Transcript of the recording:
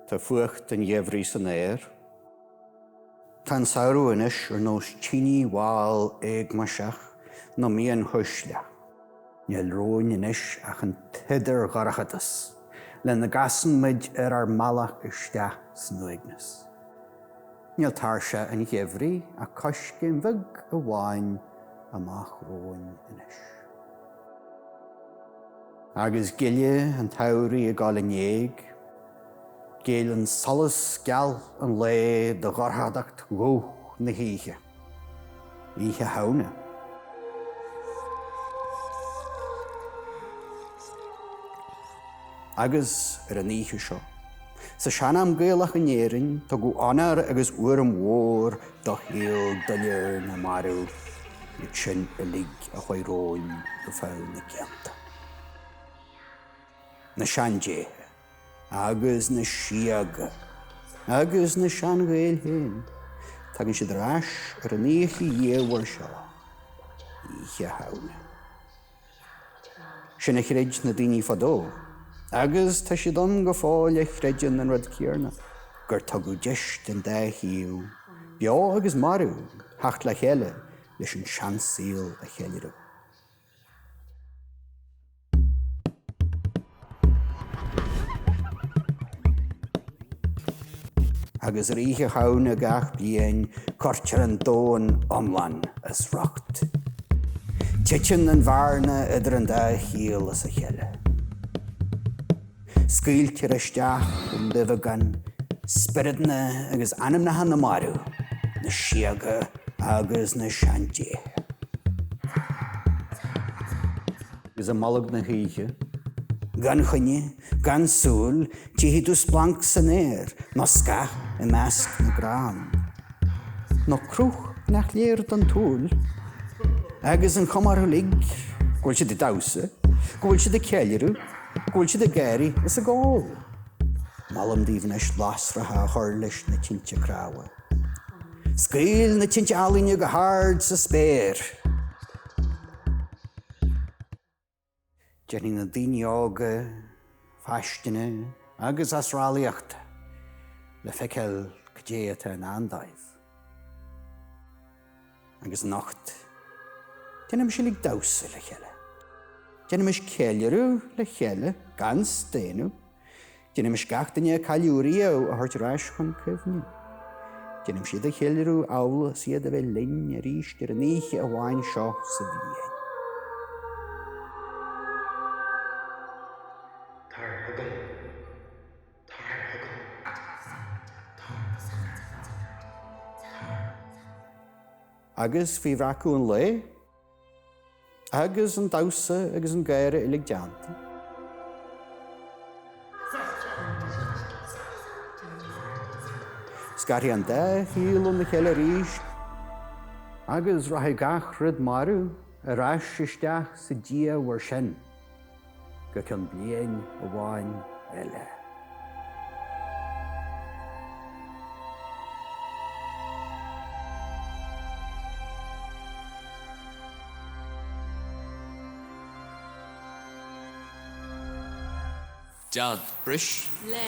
Tá fuacht an gheimhridh san aer. Tá an samhradh anois ar nós tine mhall éagmaiseach nó mian chuisle. Níl romhainn anois ach an t-idirdhorchadas lena gcasann muid ar ár mbealach isteach san uaigneas. Níl tairse an gheimhridh ach coiscéim bheag amháin amach romhainn anois. Agus gile an tsamhraidh ag dul in éag, géilleann solas geal an lae do dhorchadacht dhubh na hoíche. Oíche Shamhna. Agus ar an oíche seo, sa sean-am Gaelach in Éirinn, tugadh onóir agus urraim mhór Do shlua dofheicthe na marbh, iad sin uilig a chuaigh romhainn go feadh na gcianta. Na seandéithe agus na síoga agus na sean-Ghaeil féin, tagann siad ar ais ar an oíche dhiamhair seo, Oíche Shamhna. Sin a chreid na daoine fadó, agus tá siad ann go fóill a chreideann an rud céarna, gur tugadh deis don dá thaobh, beo agus marbh, theacht le chéile leis an seansaol a cheiliúradh. agus ar Oíche Shamhna gach bliain cuirtear an domhan iomlán as riocht. Titeann an bhearna idir an dá shaol as a chéile. Scaoiltear isteach i nduibheagán spioradanna agus anamnacha na marbh, na síoga agus na seandéithe. agus i mbolg na hoíche. Gan choinne, gan súil, tífidh tú splanc san aer, nó scáth i measc na gcrann. Nó cruth nach léir don tsúil. Agus an chuma orthu uilig go bhfuil siad ag damhsa, go bhfuil siad ag ceiliúradh, go bhfuil siad ag gáirí is ag ól. Molaim daoibh anois lasracha a chur leis na tinte cnámha. Scaoil na tinte ealaíne go hard sa spéir. Déanfaidh na daoine óga fáistine agus asarlaíocht le feiceáil cad é atá i ndán dóibh. Agus anocht, déanaimis uilig damhsa le chéile. Déanaimis ceiliúradh le chéile gan staonadh. Déanaimis gach duine a cailleadh riamh a thabhairt ar ais chun cuimhne. Déanaimis iad a cheiliúradh amhail is iad a bheith linn arís ar an oíche amháin seo sa bhliain. Tar chugam. Tar chugam. Tar chugam. Tar. Agus faoi bhreacadh an lae. Agus an damhsa agus an gáire uilig déanta. Scarfaidh an dá shaol óna chéile arís. Agus rachaidh gach rud marbh ar ais isteach sa dé mhór sin. go cionn bliain amháin eile. Dealbh, bris? le.